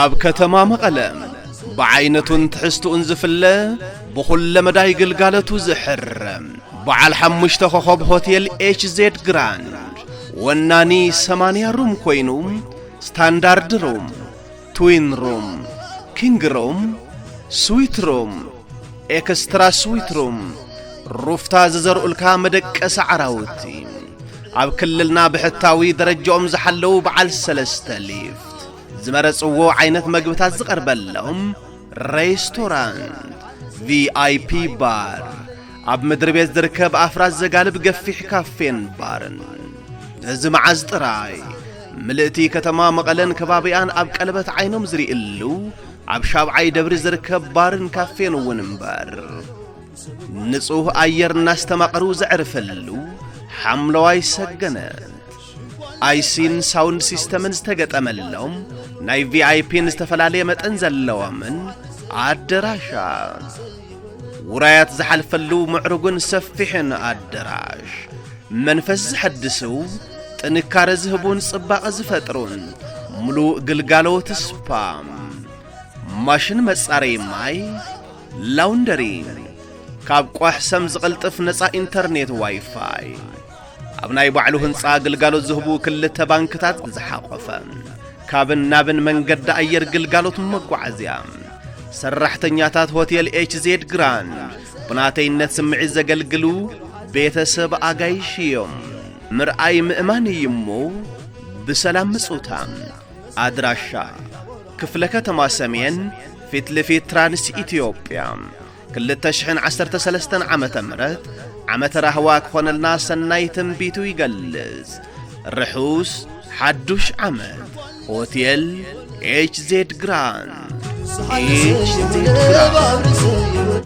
ኣብ ከተማ መቐለ ብዓይነቱን ትሕዝትኡን ዝፍለ ብኹለ መዳይ ግልጋለቱ ዝሕር በዓል ሓሙሽተ ኾኾብ ሆቴል ኤች ዜድ ግራንድ ወናኒ ሰማንያ ሩም ኮይኑ ስታንዳርድ ሩም ትዊን ሩም፣ ኪንግ ሩም፣ ስዊት ሩም፣ ኤክስትራ ስዊት ሩም፣ ሩፍታ ዝዘርኡልካ መደቀሲ ዓራውቲ፣ ኣብ ክልልና ብሕታዊ ደረጃኦም ዝሓለዉ በዓል ሰለስተ ሊፍት፣ ዝመረጽዎ ዓይነት መግብታት ዝቐርበሎም ሬስቶራንት፣ ቪኣይፒ ባር፣ ኣብ ምድሪ ቤት ዝርከብ ኣፍራስ ዘጋልብ ገፊሕ ካፌን ባርን እዚ መዓዝ ጥራይ ምልእቲ ከተማ መቐለን ከባቢኣን ኣብ ቀለበት ዓይኖም ዝርእሉ ኣብ ሻብዓይ ደብሪ ዝርከብ ባርን ካፌን እውን እምበር ንጹህ ኣየር እናስተማቐሩ ዘዕርፈሉ ሓምለዋይ ሰገነት ኣይሲን ሳውንድ ሲስተምን ዝተገጠመሎም ናይ ቪኣይፒን ዝተፈላለየ መጠን ዘለዎምን ኣደራሻት ውራያት ዝሓልፈሉ ምዕሩግን ሰፊሕን ኣደራሽ መንፈስ ዝሐድስው ጥንካረ ዝህቡን ጽባቐ ዝፈጥሩን ምሉእ ግልጋሎት ስፓ ማሽን መጻረይ ማይ ላውንደሪ ካብ ቋሕ ሰም ዝቕልጥፍ ነፃ ኢንተርኔት ዋይፋይ ኣብ ናይ ባዕሉ ህንፃ ግልጋሎት ዝህቡ ክልተ ባንክታት ዝሓቖፈ ካብን ናብን መንገዲ ኣየር ግልጋሎት መጓዓዝያ ሰራሕተኛታት ሆቴል ኤችዜድ ግራንድ ብናተይነት ስምዒት ዘገልግሉ ቤተሰብ ኣጋይሽ እዮም። ምርኣይ ምእማን እዩ እሞ ብሰላም ምጹታ። ኣድራሻ ክፍለ ከተማ ሰሜን ፊት ለፊት ትራንስ ኢትዮጵያ ክልተ ሽሕን ዓሰርተ ሰለስተን ዓመተ ምሕረት ዓመተ ራህዋ ክኾነልና ሰናይ ትንቢቱ ይገልጽ። ርሑስ ሓዱሽ ዓመት ሆቴል ኤችዜድ ግራንድ ኤችዜድ ግራንድ